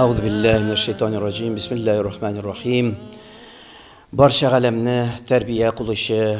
Әгъзу билләһи минәш шайтанир раҗим. Бисмиллаһир рахманир рахим. Барча галәмне тәрбия кылучы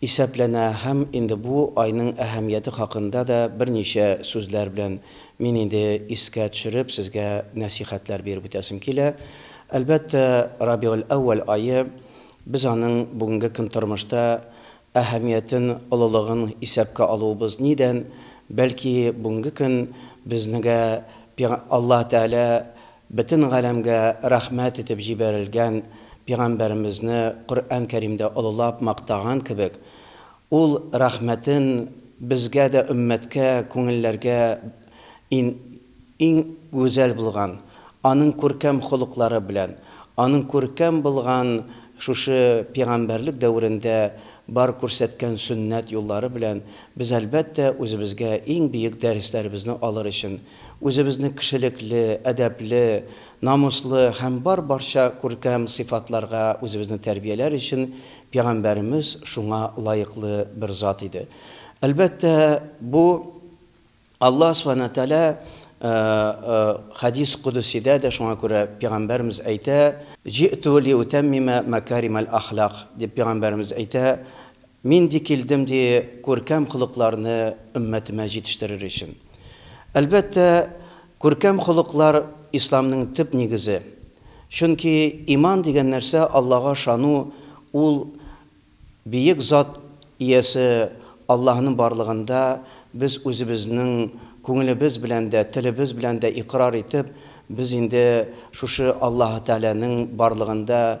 Исәпләнә һәм инде бу айның әһәмияте хакында да берничә сүзләр белән мин инде искә төшереп сезгә нәсыйхәтләр биреп үтәсем килә. Әлбәттә, Рабигель-әүвәл ае, без аның бүгенге көн тормышта әһәмиятен, олылыгын исәпкә алуыбыз нидән, бәлки бүгенге көн безнегә Аллаһ Тәгалә Бөтен галәмгә рәхмәт итеп җибәрелгән Пигамбәремезне Коръән Кәримдә олылап мактаган кебек, ул рәхмәтен безгә дә өммәткә, күңелләргә ин иң гүзәл булган, аның күркәм холыклары белән, аның күркәм булган шушы пигамбәрлек дәверендә бар күрсәткән сөннәт юллары белән без әлбәттә үзебезгә иң биек дәресләребезне алыр өчен Үзебезне кешелекле, әдәпле, намуслы һәм бар-барча күркәм сыйфатларга үзебезне тәрбияләр өчен Пәйгамбәребез шуңа лаеклы бер зат иде. Әлбәттә, бу Аллаһ Сүбхәнәһү вә Тәгалә Хәдис Кодүсидә дә шуңа күрә Пәйгамбәребез әйтә, Җи'ту лиутәммимә мәкәримәл ахлак, дип Пәйгамбәребез әйтә, Мин ди килдем ди күркәм холыкларны өммәтемә җитештерер өчен. Әлбәттә, күркәм холыклар Исламның төп нигезе. Чөнки иман дигән нәрсә Аллага ышану, ул Биек Зат иясе Аллаһының барлыгында без үзебезнең күңелебез белән дә, телебез белән дә икърар итеп, без инде шушы Аллаһы Тәгаләнең барлыгында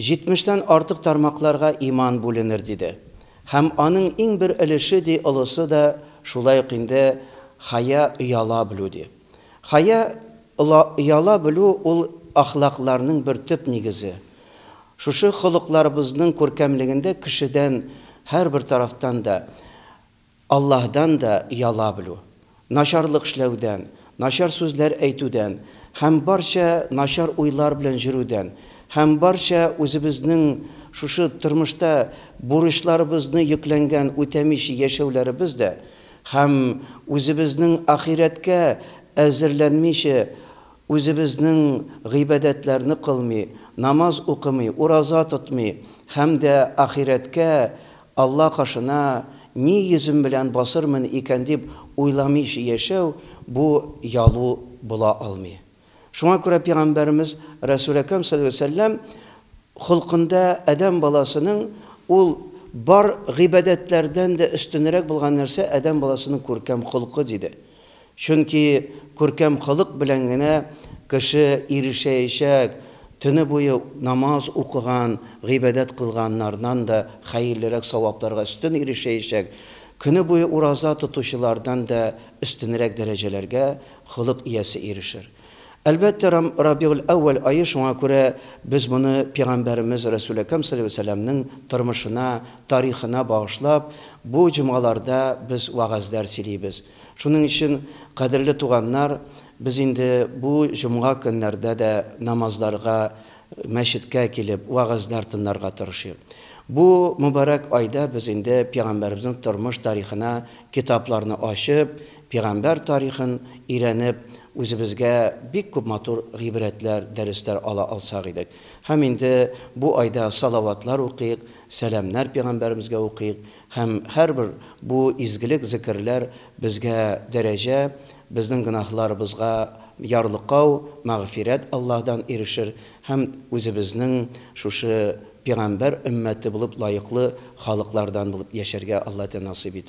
Җитмештән артык тармакларга иман бүленер, диде. Һәм аның иң бер өлеше, ди, олысы да шулай ук инде хая, ояла белү, ди. Хая, ола, ояла белү ул әхлакларның бер төп нигезе. Шушы холыкларыбызның күркәмлегендә кешедән һәрбер тарафтан да, Аллаһдан да яла белү, начарлык эшләүдән, начар сүзләр әйтүдән һәм барча начар уйлар белән жөрүдән һәм барча үзебезнең шушы тормышта бурычларыбызны йөкләнгән үтәмичи яшәүләребез дә һәм үзебезнең ахирәткә әзерләнмиче үзебезнең гыйбадәтләрне кылмый, намаз укымый, ураза тотмый һәм дә ахирәткә Алла кашына ни йөзем белән басырмын икән дип уйламыйча яшәү, бу ялу була алмый. Шуңа күрә пигамбәребез Рәсүл Әкрәм салләллаһу галәйһи ва сәлләм холкында адәм баласының ул бар гыйбадәтләрдән дә өстенрәк булган нәрсә, адәм баласының күркәм холкы, диде. Чөнки күркәм холык белән генә кеше ирешәячәк, төне буе намаз укыган, гыйбадәт кылганнардан да хәерлерәк савапларга өстен ирешәячәк, көне буе ураза тотучылардан да өстенрәк дәрәҗәләргә холык иясе ирешер. Әлбәттә, Рабигуль-әүвәл ае, шуңа күрә без моны пигамбәребез Рәсүл Әкрәм салләллаһу галәйһи ва сәлләмнең тормышына, тарихына багышлап, бу җомгаларда без вәгазьләр сөйлибез. Шуның өчен, кадерле туганнар, без инде бу җомга көннәрдә дә намазларга, мәчеткә килеп, вәгазьләр тынларга тырышыйк. Бу мөбарәк айда без инде Пигамбәребезнең тормыш тарихына китапларны ачып, пигамбәр тарихын өйрәнеп, үзебезгә бик күп матур гыйбрәтләр, дәресләр ала алсак идек. Һәм инде бу айда салаватлар укыйк, сәламнәр Пигамбәребезгә укыйк, Һәм һәрбер бу изгелек, зекерләр безгә дәрәҗә, безнең гөнаһларыбызга ярлыкау, мәгъфирәт Аллаһдан ирешер һәм үзебезнең шушы пигамбәр өммәте булып лаеклы халыклардан булып яшәргә Аллаһ Тәгалә насыйп итәр.